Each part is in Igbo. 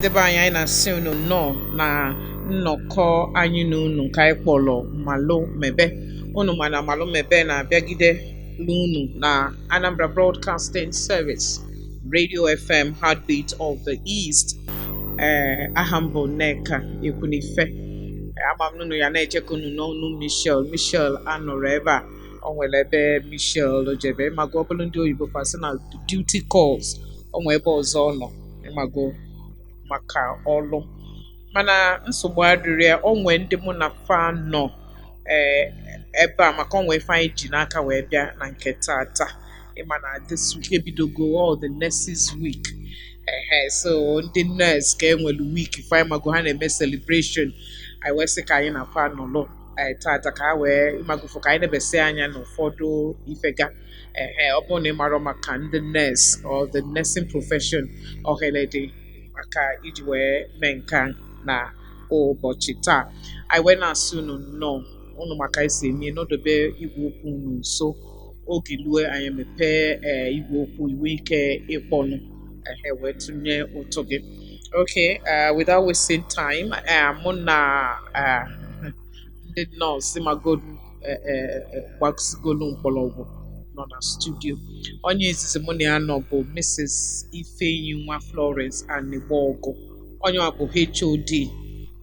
ndị be anyị anyị na-asị unu nnọọ na nnọkọ anyị na unu nke anyị kpọlọ malụ mebe unu ma na malụ mebe na-abịagide n'unu na Anambra Broadcasting Service Radio FM Heartbeat of the East ee aha m bụ Nneka Ekwunife ama m na unu ya na-eche ka unu nụ ọnụ Michelle Michelle anọrọ ebe a o nwere ebe Michelle jebe ịmago ọ bụrụ ndị oyibo fa sị na duty calls o nwee ebe ọzọ ọ nọ ịmago maka ọlụ mana nsogbu adịrọ ya o nwee ndị mụ na fa nọ ee ebe a maka o nwe ife anyị ji n'aka wee bịa na nke tata ịma na this week ebidogo all the nurses week ehe so ndị nurse ka enwere week fa ịmago ha na-eme celebration anyị wee sị ka anyị na fa nọlụ eh, tata ka a wee ịmagofu ka anyị nebesie anya n'ụfọdụ ife ga ehe ọ bụrụ na ị marọ maka ndị nurse or the nursing profession ohere dị maka iji wee mee nke a na ụbọchị taa anyị wee na-asị unu nnọọ unu ma ka e si eme unu dobe igwe okwu unu nso oge lue anyị mepee ee igwe okwu i nwe ike ịkpọnụ ehe wee tụnye ụtụ gị Okay, uh, without wasting time, uh, mụ na uh, ndị nọọsụ ịmago uh, uh, uh, gbasigolu mkpọrọgwụ nọ na studio. Onye izizi mụ na ya nọ bụ Mrs. Ifeyinwa Florence Anigbogu. Onye ọ bụ HOD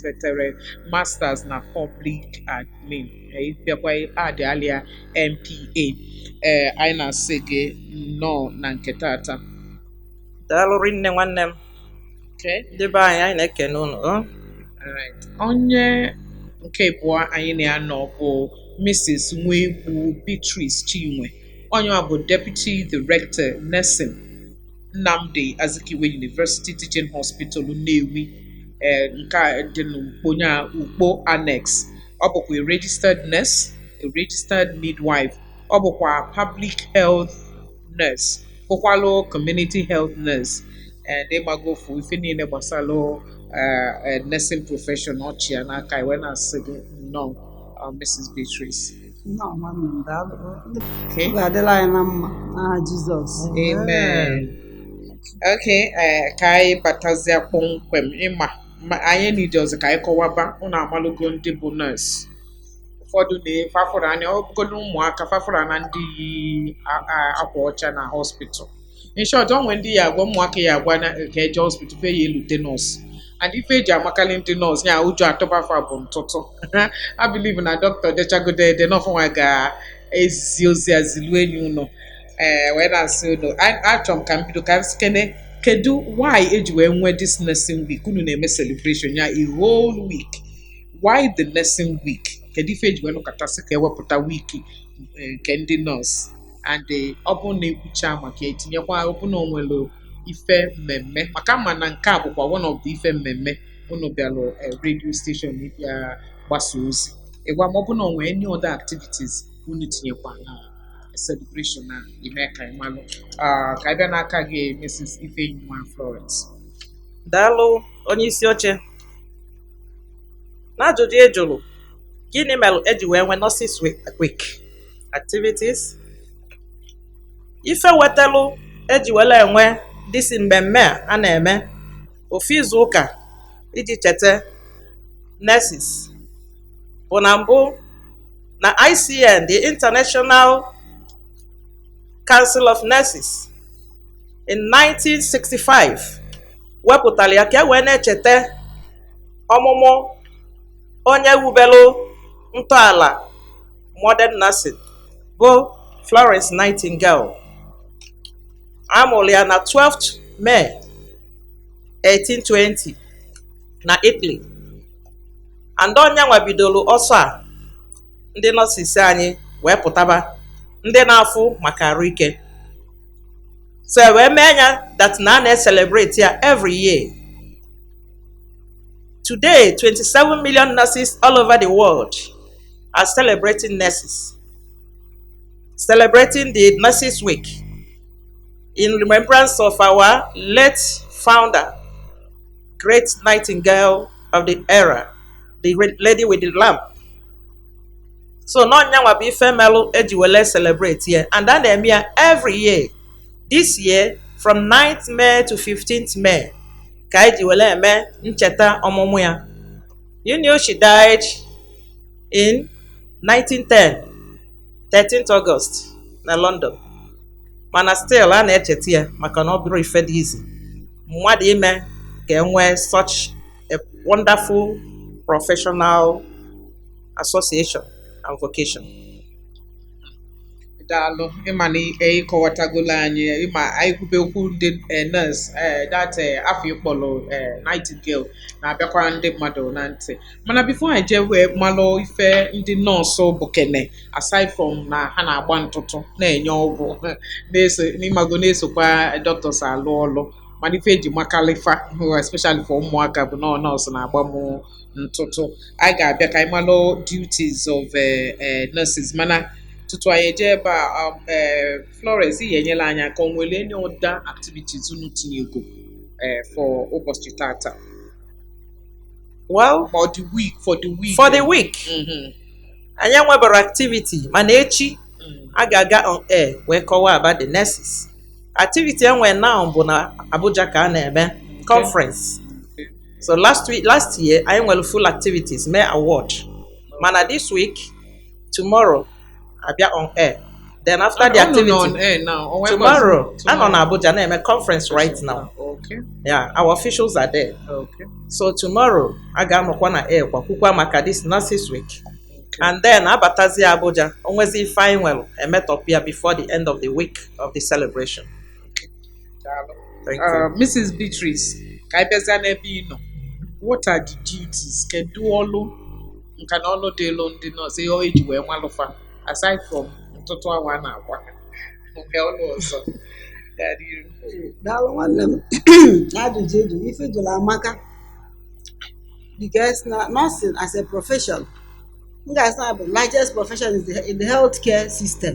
setere masters na public admin ịbịakwa adị alịa MPA ee anyị na-asị gị nnọọ na nke tata daalụ rinne nwanne m okay ndị be anyị anyị na-ekene unu o. Alright. Onye nke abụọ anyị na ya nọ bụ Mrs. Nwegbu Beatrice Chinwe. Onye ọ bụ Deputy Director Nursing Nnamdi Azikiwe University Teaching Hospital Nnewi eh, nke a dị n'Ukpo nya Ukpo Annex ọ bụkwa a registered nurse a registered midwife ọ bụkwa public health nurse bụkwalụ community health nurse and ịmago ofu ife niile gbasalụ eh, eh, nursing profession ọ chị ya n'aka e wee na-asị gị nnọọ uh, Mrs. Beatrice Ihe ọma m nọ, daalụ. Okay. Ọ ga-adịlị anyị na mma n'aha Jizọs. Amen. Okay, eh, ka anyị batazia kpọmkwem ịma ma anyị nidi ọzọ ka anyị kọwaba ụnụ amalụgo ndị bụ nurse ụfọdụ n'ife a fụrụ anya ọ bụgodo ụmụaka fa fụrụ na ndị yi a- a- akwa ọcha na hospital in short onwe ndị ya agwa ụmụaka ya agwa na ka eje hospital fa ya elote nọọsụ and ife eji amakalị ndị nọọsụ ya ụjọ atụba fa bụ ntụtụ I believe na dọkịta dechagode ede n'ọ fanwa ga-ezi ozi a zilu enyi ụnọ ee wee na-asị unu achọrọ m ka m bido ka m sịkene kedu why eji wee nwee this nursing week unu na-eme celebration ya a whole week why the nursing week kedu ife eji wee nọkọta sị ka ewepụta wiki eh, nke ndị nọọsụ and eh, ọ bụ na ekwucha maka etinyekwa ọ bụ na onwere ife mmemme maka m ma na nke a bụkwa one of the ife mmemme unu bịara eh, radio station ịbịa gbasa ozi ị gwa m ma ọ bụ na onwe any other activities unu tinyekwa na celebration a i mee ka anyị malụ Ah, ka anyị bịa n'aka gị Mrs. Ifeyinwa Florence daalụ onye isi oche n'ajụjụ ị jụrụ gịnị mere eji wee nwee nurses week activities ife wetalụ eji were enwe this mmemme a a na-eme ofu izu ụka iji cheta nurses bụ na mbụ na ICN the International Council of Nurses in 1965 wepụtara ya ka e wee na-echeta ọmụmụ onye wubelụ ntọala modern nursing bụ Florence Nightingale a mụrụ ya na 12th May 1820 na Italy and ọ nyanwa bidoro ọsọ a ndị nurses anyị wee pụtaba ndị na-afụ maka arụ ike so e wee mee ya that na a na-eselebrate ya every year today 27 million nurses all over the world are celebrating nurses, celebrating the Nurses Week in remembrance of our late founder, great nightingale of the era, the lady with the lamp. So n'ọ nyanwa bụ ife melụ eji wele celebrate ya and a na-eme ya every year. This year from 9th May to 15th May ka eji wele eme ncheta ọmụmụ ya. You know she died in 1910 13th August na London mana still a na-echeta ya maka na ọ bụrọ ife dị easy mmadụ ime ka enwee such a wonderful professional association and vocation daalụ ị ma na ị kọwatagolo anyị ị ma anyị kwube okwu ndị eh, nurse eh, that eh, afa ị kpọrọ eh, Nightingale na-abịakwa ndị mmadụ na ntị mana before anyị jee wee malụ ife ndị nọọsụ bụ kene aside from na ha na-agba ntụtụ na-enye ọgwụ na-eso ị mago na-esokwa doctors alụ ọlụ mana ife e ji makalị fa especially for ụmụaka bụ na ọ nọọsụ na-agba m ntụtụ anyị ga-abịa ka anyị malụ duties of eh, eh, nurses mana tutu anyị eje ebe a um, eh, Florence ị ga-enyere anyị aka o nwere any other activities unu tinyego eh, for ụbọchị tata well ma ọ the week for the week for the week Mhm. anyị enwebara activity mana echi Mm. a ga-aga on air wee kọwaa about the nurses activity e nwe now bụ na Abuja ka a na-eme conference so last week last year anyị nwere full activities mee award mana this week tomorrow a bịa on air then after the activity tomorrow a nọ na Abuja na-eme conference right now okay. yeah our officials are there okay. so tomorrow a ga-anọkwa na air kọwakwukwa maka this nurses week and then a batazie Abuja o nwezi ife anyị nwere emetọpụ ya before the end of the week of the celebration Thank you. Uh, Mrs. Beatrice, ka anyị bịazie n'ebe ị nọ. What are the duties? Kedu ọlụ nka na ọlụ dịịlụ ndị nọọsụ ihe e ji wee malụ fa aside from ntụtụ anwa a na-agba ha. Nke ọlụ ọzọ gaa n'ihu. daalụ nwanne m n'ajụjụ ị jụ ife ị jụrụ amaka because na nursing as a profession m ga-asị na bụ largest profession in the- in the healthcare system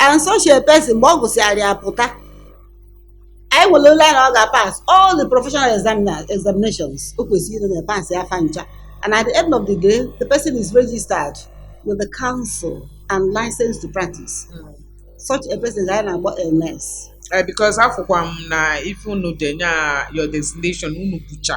and such a person mgbe ọ gụsịara ya pụta anyị nwere ole na ọ ga-pass all the professional examina- examinations o kwesịrị ịnọ na passịa fa ncha and at the end of the day the person is registered with the council and licensed to practice such a person ka anyị na-akpọ a nurse Eh, because afụkwa m na ife unu denye a your designation unu bụcha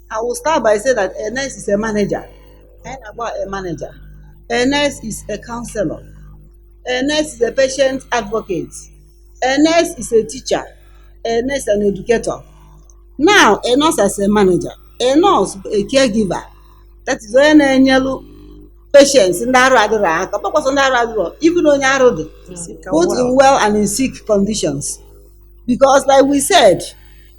I will start by saying that a nurse is a manager. I know about a manager. A nurse is a counselor. A nurse is a patient advocate. A nurse is a teacher. A nurse is an educator. Now, a nurse as a manager. A nurse, a caregiver. That is onye na-enyelu patients ndị arụ adịrọ aka ọ bụrọkwa sọ ndị arụ adịrọ even onye arụ dị both in well and in sick conditions because like we said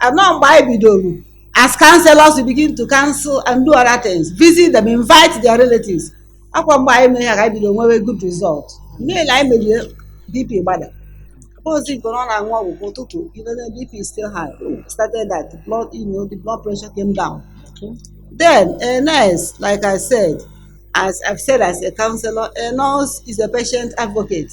And now mgbe anyị bidoro as counselors we begin to counsel and do other things visit them invite their relatives ọ kwa mgbe anyị mere ya ka anyị bidoro nwewe good result mee na anyị merie bp gbada ozi nke ọ na-aṅụ ọgwụ kwa ụtụtụ even though bp is still high oh, started that the blood you know, the blood pressure came down then a nurse like i said as i've said as a counselor a nurse is a patient advocate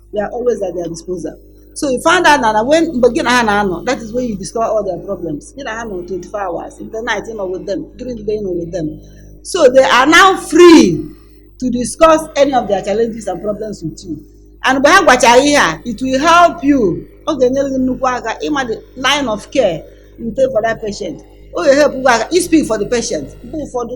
we are always at their disposal so you find out na na when mgbe gị na ha na-anọ that is when you discover all their problems gị na ha nọ 24 hours in the night ị nọ with them during the day ị nọ with them so they are now free to discuss any of their challenges and problems with you and mgbe ha gwachara ihe a it will help you ọ ga-enyere gị nnukwu aka ịma the line of care you take for that patient ọ ga-ehelp gị aka i speak for the patient mgbe ụfọdụ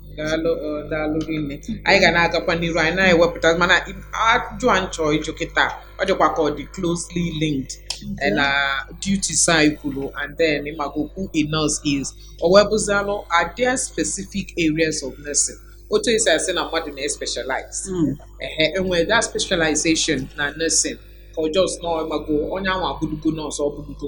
daalụ ọ, daalụ rinne anyị ga na-agakwa n'iru anyị na-ewepụta mana i- ajụ a m chọ ịjụ kịta ọ dịkwa ka ọ dị closely linked eh, na duties anyị kwuru and then ịmago who a nurse is o wee bụzialụ are there specific areas of nursing otu esi asị na mmadụ na-especialize Mm. ehe enwere that specialization na nursing ka ọ just na ịmago onye ahụ abụlugo nọọsụ ọ bụlugo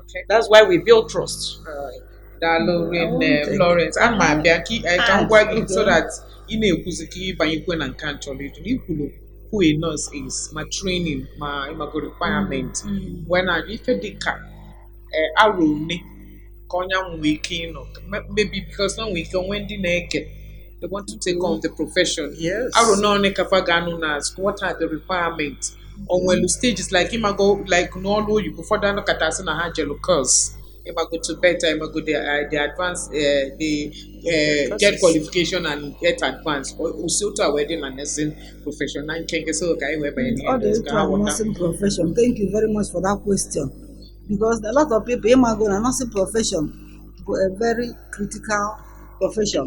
Okay, that's why we build trust. Uh, daalụ rinne Florence ana m abịa ka ị- eh, ka m gwa gị so that ị na-ekwuzi ka ị banyekwu na nke m chọrọ ịjụ na i kwulu who a nurse is ma training ma ịmago requirement wee na ife dị ka eh, arọ one ka onye ahụ nwee ike ịnọ Me- maybe because na nwee ike o nwee ndị na-ege they want to take on the profession Yes. arọ na one ka fa ga-anọ na school what are the requirements o nwelu stages like ịmago like n'ọrụ oyibo ụfọdụ a nọkata a sị na ha jelu course ịmago to better ịmago the uh, the advance uh, the uh, get qualification and get advanced o si otu a wee dị na nursing profession na nkenke so ka anyị wee banye n'ihe ọ dị otu a nursing profession thank you very much for that question because a lot of people ịmago na nursing profession bụ a very critical profession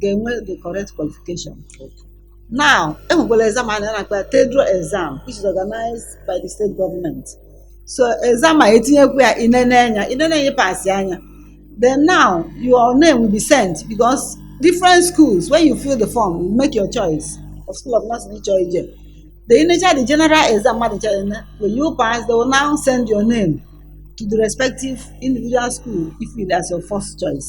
ga-enwe the correct qualification now enwekwara exam a na-akpa ya tedro exam which is organized by the state government so exam a etinyekwu ya inene anya inene anya pasị anya then now your name will be sent because different schools when you fill the form you make your choice of school of nursing ịchọ ije the initial the general exam mmadụ chọrọ ime when you pass they will now send your name to the respective individual school if it as your first choice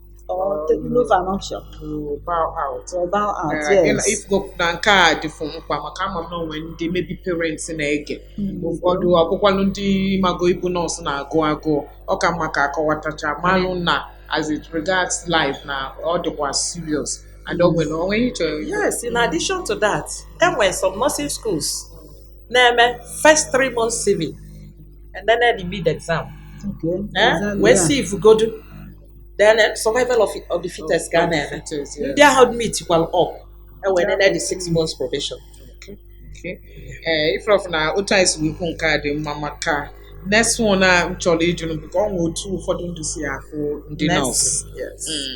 or take no for an option to bow out. to bow out Uh, then yes ị fụgo na nke a dị fụ mkpa maka ama m na o nwee ndị maybe parents na-ege Mm. ụfọdụ ọ bụkwanụ ndị ịmago ịbụ nọọsụ na-agụ agụụ ọ ka mma ka a kọwatacha malụ na as it regards life na ọ dịkwa serious and o nwere o nwee ihe ị chọrọ yes in addition to that enwere some nursing schools na-eme first three months sieving and then the mid exam okay eh? Exactly, wee yeah. sievugodu then eh, survival of, of the fittest ka a na-eme ndị ahụ meetikwalụ up e wee nene the six months probation eh, ị fụrọ fụ na otu anyị si wee kwu nke a dị mma maka next one a m chọrọ ịjụ bụ ka o nwe otu ụfọdụ ndị si afụ ndị nọọsụ mm.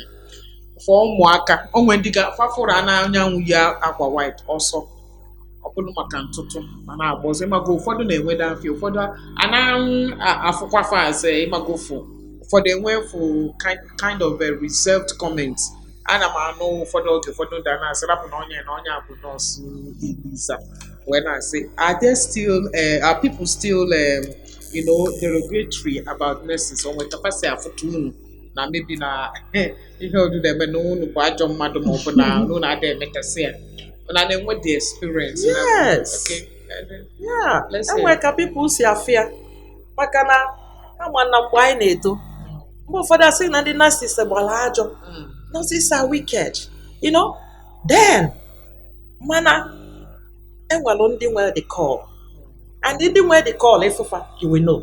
for ụmụaka o nwee ndị ga fa fụrụ na onye ahụ yi akwa white ọsọ ọ bụrụ maka ntụtụ ma na-agbazi ịmago ụfọdụ na-enwede afịa ụfọdụ a na-afụkwa fa aze ịmago ụfụ ụfọdụ enwe fụ kind of a reserved comment ana m anụ ụfọdụ oge ụfọdụ ndị a na-asị rapụ na onye na onye a bụ nọọsụ ibiza wee na-asị are there still uh, are people still um, you know derogatory about nurses o nwe ka fa si afụta unu na maybe na ihe odu na-eme na unu bụ ajọ mmadụ ma ọ bụ na unu na-ada emetasị ya na na-enwe the experience na- Yes. Okay. Yeah, Let's see. enwere ka pipụl si afụ ya maka na ị ma na mgbe anyị na-eto mgbe ụfọdụ a sị na ndị nurses gbara ajọ Mm. nurses are wicked you know then mana enwere ndị nwere the call and ndị nwere the call ị fụ fa you will know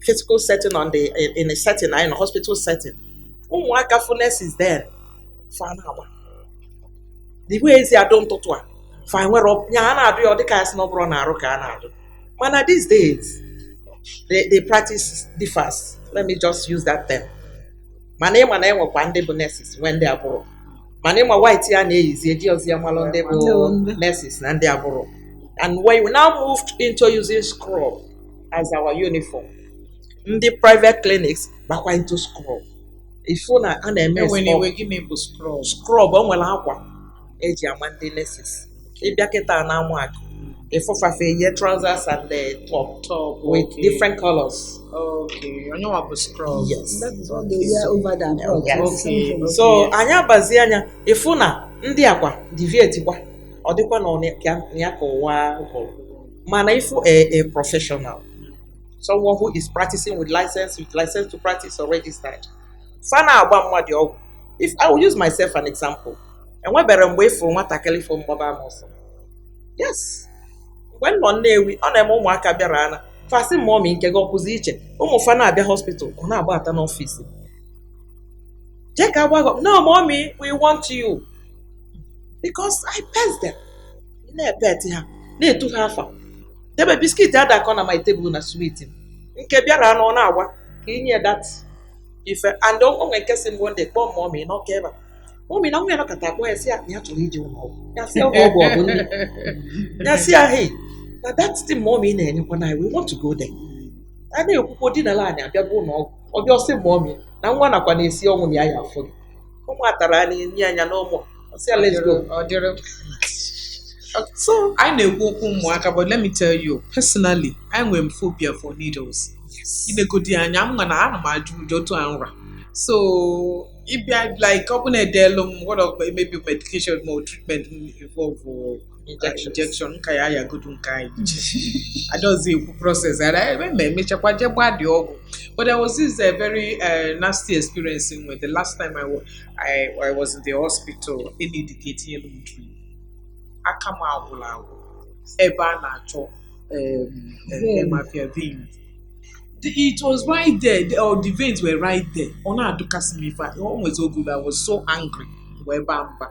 physical setting on the in, in a setting in a hospital setting ụmụaka fụ nurses then fa na-agba the way e si adụ ntụtụ a fa nwere ọ- ya a na-adụ ya ọ dịka a sị na ọ bụrọ n'arụ ka a na-adụ mana these days the, the practice differs let me just use that term mana ịma na enwekwa ndị bụ nurses nwee ndị abụrọ mana ịma white a na-eyizi ejirọzi ya amalụ ndị bụ Ndị bụ ndị. nurses na ndị abụrọ and when we now moved into using scrub as our uniform ndị private clinics bakwa into scrub ị fụ na a na-eme enwere iwe scrub gịnị bụ scrub scrub o nwere akwa e ji ama ndị nurses ịbịa kịta na Amaku ị fụ fa fa eyi trousers and the top top with okay. different colors okay ọ nya nwa bụ scrub yes That is what they wear over there abroad. Yes. It's Okay. something. so anyị abazie anya ịfụ na ndị akwa deviate kwa ọ dịkwa na ọ na- ka- na ya ka ụwa gwụrụ mana ịfụ a a professional someone who is practicing with license with license to practice or registered fa na-agba mmadụ ọgwụ if i will use myself an example enwebero mgbe ịfụrụ nwatakịrị fụ m gbaba m ọsọ yes mgbe m nọ nnewi ọ na-eme ụmụaka bịara ana fa sị mọmi nke gị a kwụzi iche ụmụ fa na-abịa hospital ọ na-agbata n'ọfịs m. jee ka a gbaa gị no mọmi we want you because i pet them ị na-epet ha na-etu ha afa debe biskit ada akọ na my table na swit nke bịaranụ ọ na-agwa ka i nye that ife and o nwere nke sị m one day kpọọ mọmị n'Ọka ebe a mọmị na nwa ya nọkọta akpọ ya sị ya na ya chọrọ ije ụlọ ọgwụ ya sị ya ụlọ ọgwụ ọ bụ nne ya sị ya hei na that thing mọmị na-enyekwa na we want to go there a na-ekwukwa o dina ala anyị abịa bụ ụlọ ọgwụ ọ bịa ọ sị mọmị na nwa na-akwa na-esi ọnwụ na ya ya-afụ gị ụmụ atara a na-enye anya n'ụmụ ọ sị ya let's go Ọ dịrị so anyị na-ekwu okwu ụmụaka but let me tell you personally I nwere m phobia for needles i negodi anya m na ana m atụ ụjọ otu a m ra so ịbịa like ọ bụrụ na e deelu m wọrọ maybe medication ma ọ treatment m involve injection nka ya ayagodu nke anyị adaozi ekwu process ara ebe ma e mechakwa jee gbaa the ọgwụ but there was this uh, very uh, nasty experience in with the last time I, wa- I, I was in the hospital enidike e tinyelu m drip aka m agwụla agwụ ebe a na-achọ um, Vein. uh, mafia vein The- it was right there the, oh, the veins were right there ọ na-adụkasị m ife a. o nwezi oge I was so angry wee baa mba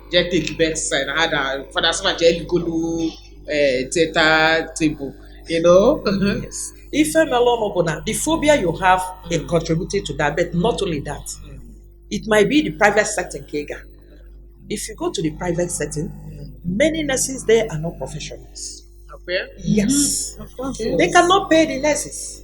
jee take bed side na ha da fada sịma jee ligolu eh, teta table you know Yes. ife mere ọnụ bụ na the phobia you have a contributed to that but not only that it might be the private setting ka ị ga if you go to the private setting many nurses there are not professionals Okay. yes Okay. they cannot pay the nurses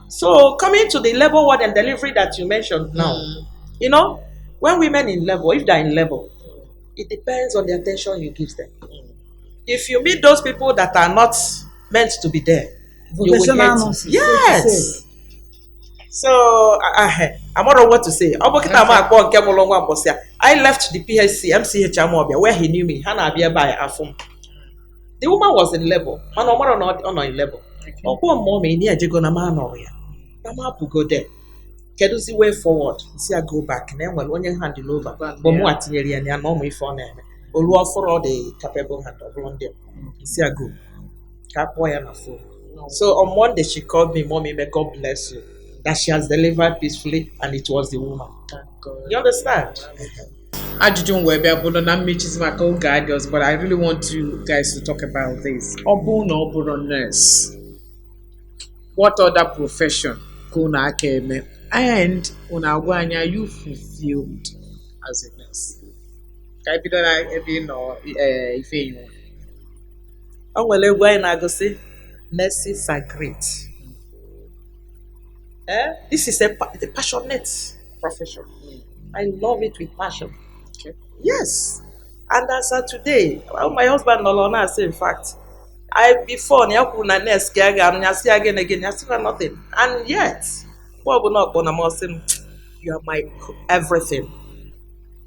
So coming to the labor ward and delivery that you mentioned now, mm. you know, when women in labor, if they're in labor, it depends on the attention you give them. Mm. If you meet those people that are not meant to be there, you will get yes. So I, I, I'm not what to say. Ọ bụ kịta m akpọ nke mụrụ nwa mbọsị a. I left the PHC MCH Amobia where he knew me. Ha na-abịa ebe a afụ m. the woman was in labor mana ọ marọ na ọ dị- ọ nọ in labor ọ kpọọ m mommy na ya ejego na m anọrọ ya na m apụgo there kedụzi way forward sị ya go back na e nwere onye hand over bụ mụ a tinyere ya na ya na ọ ma ife ọ na-eme olu ọ fụrụ ọ dị capable hand ọ bụrụ ndị a. sị ya go ka a kpọọ ya na phone so on monday she called me mommy may god bless you that she has delivered peacefully and it was the woman you understand ajụjụ m wee bịa bụrụ na mmechizi maka oge adịọzi but I really want you guys to talk about this ọ bụrụ na ọ bụrọ nurse what other profession ka unu aka eme and unu agwa anyị are you fulfilled as a nurse ka anyị bido na ebe ị nọ eh, Ifeyinwa o nwere egwu anyị na-agụ sị nurses are great eh? this is a, pa- a passionate profession. Mm. I love it with passion. Okay. Yes. And as of today, well, my husband no longer say, in fact, I before na ya kwuru na nurse ka ya ga-anụ ya sị ya gịnị gịnị ya sị na nothing and yet mgbe ọbụla ọ kpọna m ọ sị m you are my everything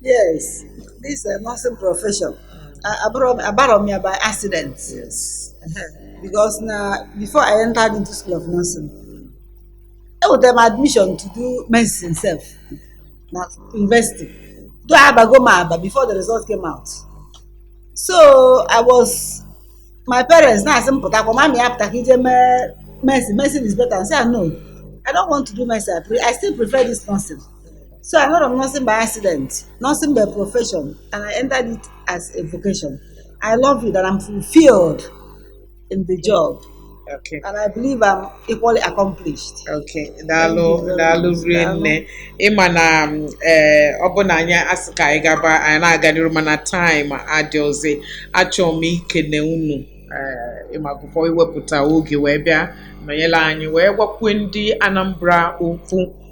yes this uh, nursing profession uh, abụrụ m- abarọ m ya by accident Yes. because na before i entered into school of nursing enwetara m admission to do medicine sef na university do abago m aba before the result came out so i was my parents na-asị m pụtakwa mami ya pụta ka ije mee medicine medicine is better I say no i don't want to do medicine i, pre- I still prefer this nursing So I heard of nursing by accident, nursing by profession, and I entered it as a vocation. I love it and I'm fulfilled in the job. Okay. And I believe I'm equally accomplished. Okay, daalụ daalụ rinne ịma na um, eh, ọ bụ na anyị asị ka anyị gaba anyị na-aga n'iru mana time adịọzi achọrọ m ikene unu eh, ịmagụfọ iwepụta oge wee bịa nọnyere anyị wee gwakwue ndị Anambra okwu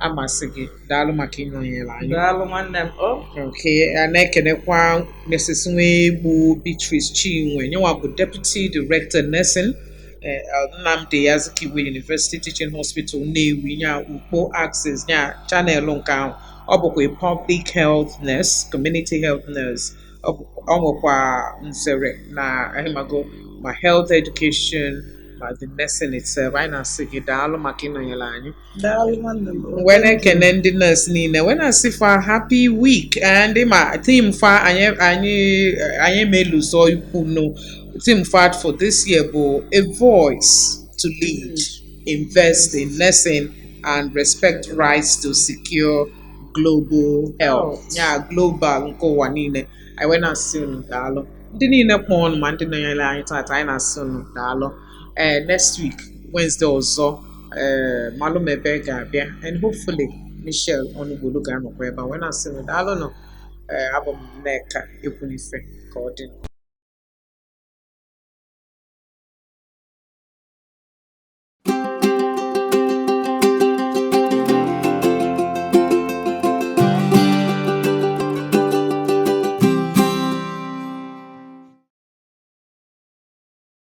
ana m asị gị daalụ maka ịnọnyere anyị daalụ nwanne m okay a na-ekenekwa Mrs. Nwegbu Beatrice Chinwe nya nwa bụ Deputy Director Nursing eh, Nnamdi Azikiwe University Teaching Hospital Nnewi nya Ukpo axis nya chanelụ nke ahụ ọ bụkwa Public Health Nurse Community Health Nurse ọ bụ- ọ nwekwa nzere na ah ịmago ma Health Education ma the Nursing itself anyị na-asị gị daalụ maka ịnọnyere anyị wee na-ekene ndị nurse niile wee na-asị fa happy week eh, and ma theme fa anyị ma-elozọ ikwu na theme fa for this year bụ a voice to lead invest in nursing and respect rights to secure global health oh. yeah global nke ụwa niile anyị wee na-asị unu daalụ ndị niile kpọọ ọnụ ma ndị nọnyere anyị taata anyị na-asị unu daalụ ee eh, next week Wednesday ọzọ ee eh, Malụ Mebe ga-abịa and hopefully Michelle Ọnụgbolu ga-anọkwa ebe a wee na-asị unu daalụ nụ ee eh, abụ m Nneka Ekwunife ka ọ dị